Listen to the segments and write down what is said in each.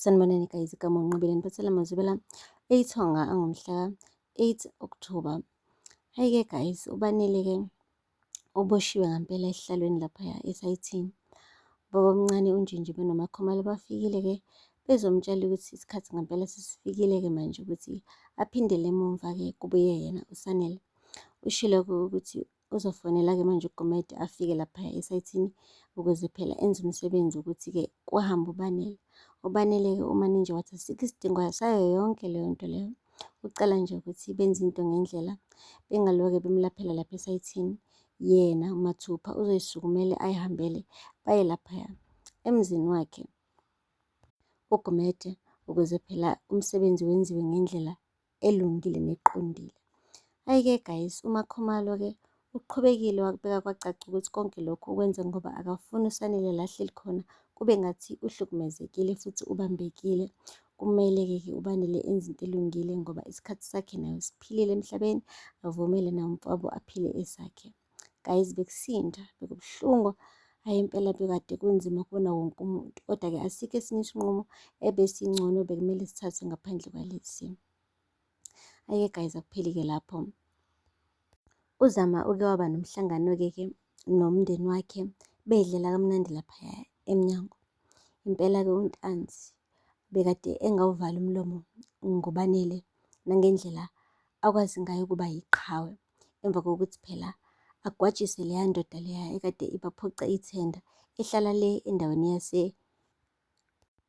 Sanibonani guys, igama unqobile niphathela mazibela ithonga angomhla 8 October. Hayi ke guys, ubanele ke oboshiwe ngampela esihlalweni laphaya esayithini. Baba omncane unjinji benomakhomala bafikile ke bezomtshela ukuthi isikhathi ngampela sesifikile ke manje ukuthi aphindele emumva ke kubuye yena uSanele. Ushilo ukuthi Kuzofanela-ke manje uGumede afike lapha esayithini ukuze phela enze umsebenzi ukuthi-ke kuhambe uBanele. UBanele-ke uManinja wathi asikho isidingo sayo yonke leyo nto leyo. Ucela nje ukuthi benze into ngendlela bengaloke bemlaphela lapha esayithini. Yena uMathupha uzoyisukumele ayihambele baye laphaya emzini wakhe uGumede ukuze phela umsebenzi wenziwe ngendlela elungile neqondile. Hhayi-ke guys, uMakhumalo-ke uqhubekile wakubeka kwacaca ukuthi konke lokhu ukwenze ngoba akafuni uSanele la ahleli khona kube ngathi uhlukumezekile futhi ubambekile. Kumele-ke ke ubanele enze into elungile ngoba isikhathi sakhe naye usiphilile emhlabeni, avumele naye umfowabo aphile esakhe. guys bekusinda bekubuhlungu hayi impela bekade kunzima kubona wonke umuntu kodwa-ke asikho esinye isinqumo ebesingcono bekumele sithathe ngaphandle kwalesi ayike guys akupheli-ke lapho uzama uke waba nomhlangano-ke ke nomndeni wakhe bedlela kamnandi laphaya emnyango impela-ke untanzi bekade engawuvala umlomo ngobanele nangendlela akwazi ngayo ukuba yiqhawe emva kokuthi phela agwajise leya ndoda leya ekade ibaphoqa ithenda ehlala le endaweni yase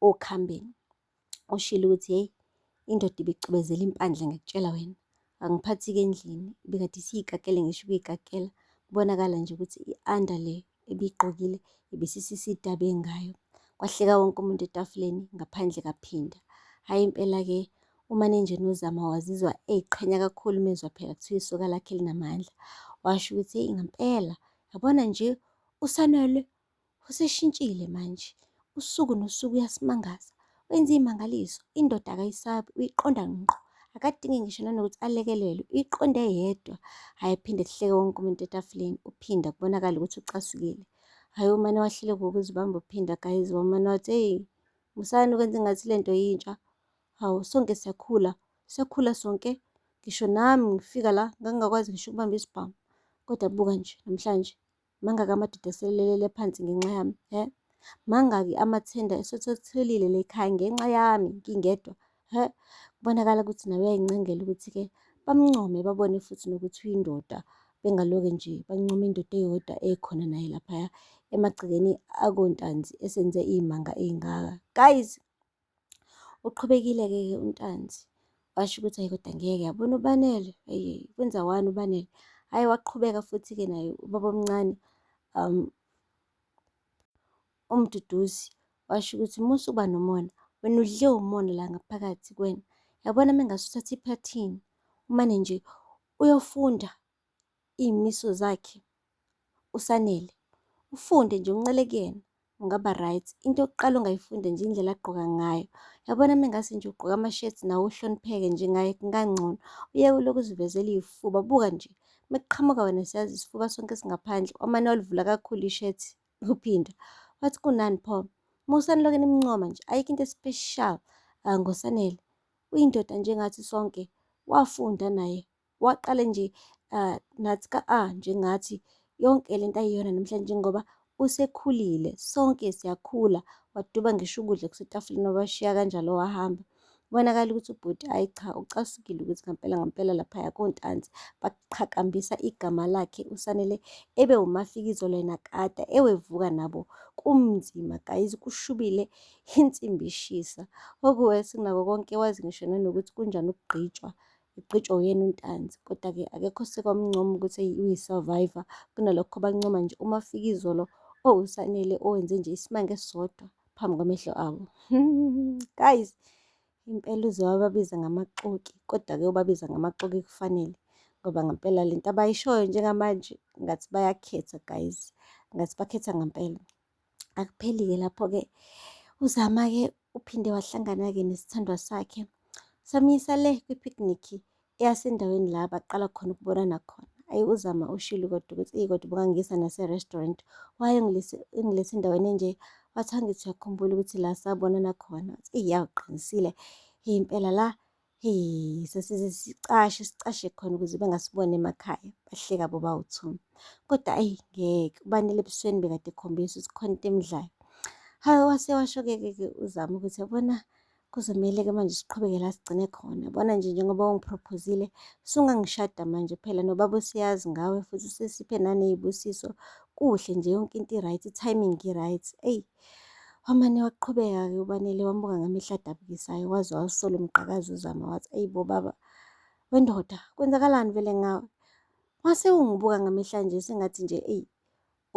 okhambeni oshilo ukuthi hey indoda ibicubezela impandla ngikutshela wena angiphathi-ke endlini ibikade isiyikakele ngisho ukuyikakela kubonakala nje ukuthi i-under leyo ebiyigqokile ibisisisidaba engayo. Kwahleka wonke umuntu etafuleni ngaphandle kaphinda. Hhayi impela-ke umanenjeni uzama wazizwa eyiqhenya kakhulu umezwa phela kuthiwa isoka lakhe linamandla. Washo ukuthi eyi ngampela yabona nje usanele useshintshile manje. Usuku nosuku uyasimangaza. Wenza iy'mangaliso, indoda akayisabi, uyiqonda ngqo. Akadingi ngisho nanokuthi alekelelwe, uyiqonde yedwa. Hhayi ephinde kuhleke wonke umuntu etafuleni, uphinda kubonakala ukuthi ucasukile. Hhayi umane wahlele ngokuzibamba uphinda guys, wamane wathi, eyi, musani ukwenza engathi le nto yintsha. Hawu, sonke siyakhula, siyakhula sonke. Ngisho nami ngifika la ngangingakwazi ngisho ukubamba isibhamu. Kodwa buka nje namhlanje. Mangaki amadoda eselelele phansi ngenxa yami? He? Mangaki amathenda esethelile lekhaya ngenxa yami ngingedwa? He? Kubonakala ukuthi nawe uyayincengela ukuthi-ke bamncome babone futhi nokuthi uyindoda bengaloke nje bancoma indoda eyodwa ekhona naye laphaya emagcekeni akontanzi esenze iy'manga ey'ngaka. Guys! Uqhubekile-ke ke uNtanzi washo ukuthi hayi kodwa ngeke yabona uBanele eyi kwenza wani uBanele hhayi waqhubeka futhi-ke naye ubaba omncane um uMduduzi washo ukuthi musa uba nomona wena udle umona la ngaphakathi kuwena yabona uma engase uthathe iphathini umane nje uyofunda iy'miso zakhe uSanele, ufunde nje uncele kuyena ungaba right. Into yokuqala ongayifunda nje indlela agqoka ngayo, yabona uma engase nje ugqoke amashethi nawe uhlonipheke nje ngaye kungangcono. Uyeke ulokhu uzivezela iy'fuba, buka nje uma kuqhamuka wena siyazi isifuba sonke singaphandle, wamane walivula kakhulu ishethi uphinda wathi kunani pho. Musa nilokhu nimncoma nje, ayikho into especial ah, ngoSanele. Uyindoda njengathi sonke, wafunda naye waqale nje uh, nathi ka a ah, njengathi yonke lento ayiyona namhlanje ngoba usekhulile sonke siyakhula waduba ngisho ukudla kusetafuleni wabashiya kanjalo wahamba kubonakala ukuthi ubhuti ayi cha ucasukile ukuthi ngampela ngampela laphaya kontanzi baqhakambisa igama lakhe usanele ebe umafikizo lena kade ewevuka nabo kumnzima guys kushubile insimbi ishisa okuwesi kunako konke wazi ngisho nanokuthi kunjani ukugqitshwa Igqitshwa uyena uNtanzi, kodwa-ke akekho oseke wamncoma ukuthi eyi uyi-survivor. Kunalokho bancoma nje uma afika izolo owuSanele owenze nje isimanga esisodwa phambi kwamehlo abo. Guys, impela uze wababiza ngamaxoki, kodwa-ke ubabiza ngamaxoki kufanele ngoba ngempela le nto abayishoyo njengamanje ngathi bayakhetha guys, ngathi bakhetha ngempela. Akupheli-ke lapho-ke uZama-ke uphinde wahlangana-ke nesithandwa sakhe samyisa le kwi-picnic eyasendaweni la baqala khona ukubonana khona ayi uzama ushilo kodwa ukuthi eyi kodwa ubungangisa nase-restaurant waye ngilesi endaweni enje wathi angithi uyakhumbula ukuthi la sabonana khona eyi yawuqinisile impela la Hey, sasize sicashe sicashe khona ukuze bengasiboni emakhaya bahleka boba uthumi kodwa ayi ngeke ubanele ebusweni bekade ekhombisa ukuthi khona into emdlayo hayi wase washokeke-ke uzama ukuthi yabona kuzomele-ke manje siqhubeke la sigcine khona bona nje njengoba ungiprophozile sungangishada manje phela nobaba useyazi ngawe futhi usesiphe naney'busiso kuhle nje yonke into i-right i-timing i-right eyi Wamane waqhubeka-ke uBanele wambuka ngamehlo adabukisayo waze wawusola umqakazi uZama wathi, Eyi bo baba, wendoda, kwenzakalani vele ngawe? Wase ungibuka ngamehla nje sengathi nje eyi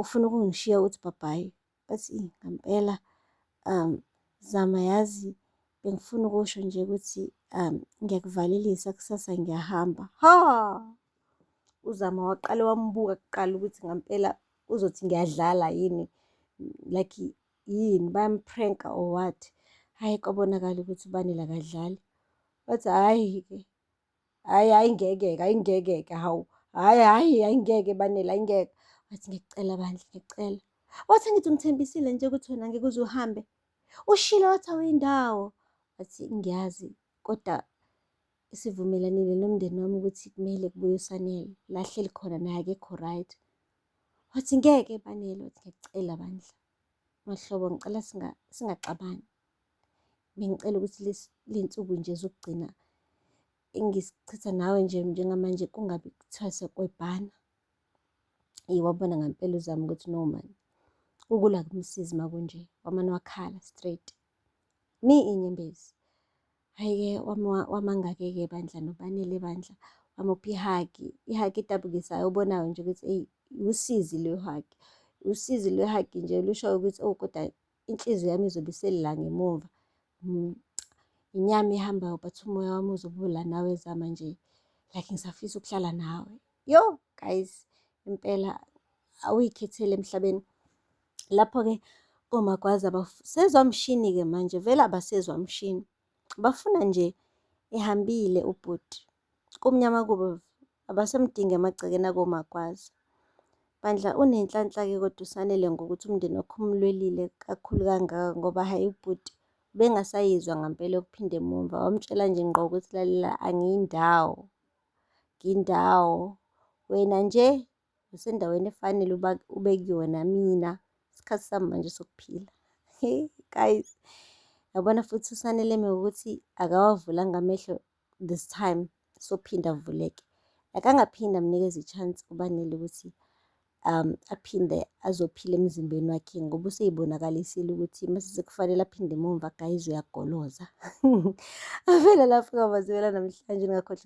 ufuna ukungishiya uthi bhabhayi. Bathi ngampela um Zama yazi bengifuna ukusho nje ukuthi um ngiyakuvalelisa kusasa ngiyahamba. Ha! UZama waqale wambuka kuqala ukuthi ngampela uzothi ngiyadlala yini like yini bayampranka or what hhayi kwabonakala ukuthi ubani lakadlali wathi hhayi-ke hhayi hhayi ngeke-ke hhayi ngeke-ke hawu hhayi hhayi hhayi ngeke banele hhayi ngeke wathi ngiyacela bandla ngiyacela wathi angithi ungithembisile nje ukuthi wena ngeke uze uhambe ushilo wathi awuyindawo wathi ngiyazi kodwa Sivumelanile nomndeni wami ukuthi kumele kubuye uSanele, la ahleli khona naye akekho right. Wathi ngeke banele, wathi ngiyakucela bandla. Mahlobo ngicela singa- singaxabani. Bengicela ukuthi lesi- le nsuku nje zokugcina engisichitha nawe nje njengamanje kungabi kuthiwa sekwebhana. Eyi wabona ngampela uZama ukuthi no mani, ukula kumsizi makunje, wamane wakhala straight. Mi inyembezi. Hayi-ke wamangake-ke bandla nobanele bandla wamupha ihagi ihagi edabukisayo obonayo nje ukuthi eyi usizi lwehagi usizi lwehagi nje lushoyo ukuthi oh kodwa inhliziyo yami izobe iselila ngemuva mm, inyama ihambayo but umoya wami uzobula nawe zama nje like ngisafisa ukuhlala nawe yo guys impela awuyikhetheli emhlabeni Lapho-ke komagwaza abasezwa mshini-ke manje, vele abasezwa mshini. Bafuna nje ehambile ubhuti. Kumnyama kubo abasemdingi emagcekeni akomagwaza. Bandla unenhlanhla-ke kodwa usanele ngokuthi umndeni wakho umlwelile kakhulu kangaka ngoba hhayi ubhuti ubengasayizwa ngampela ukuphinda emumva wamtshela nje ngqo ukuthi lalela angiyindawo ngindawo wena nje usendaweni efanele uba ube kuyona mina isikhathi sami manje sokuphila hey guys yabona futhi usaneleme ukuthi akawavulanga amehlo this time sophinda avuleke akangaphinda amnikeza i-chance ubanele ukuthi um aphinde azophila emzimbeni wakhe ngoba useyibonakalisile ukuthi mase kufanele aphinde emumva guys uyagoloza avele lapho kwamazibela namhlanje ngakhohle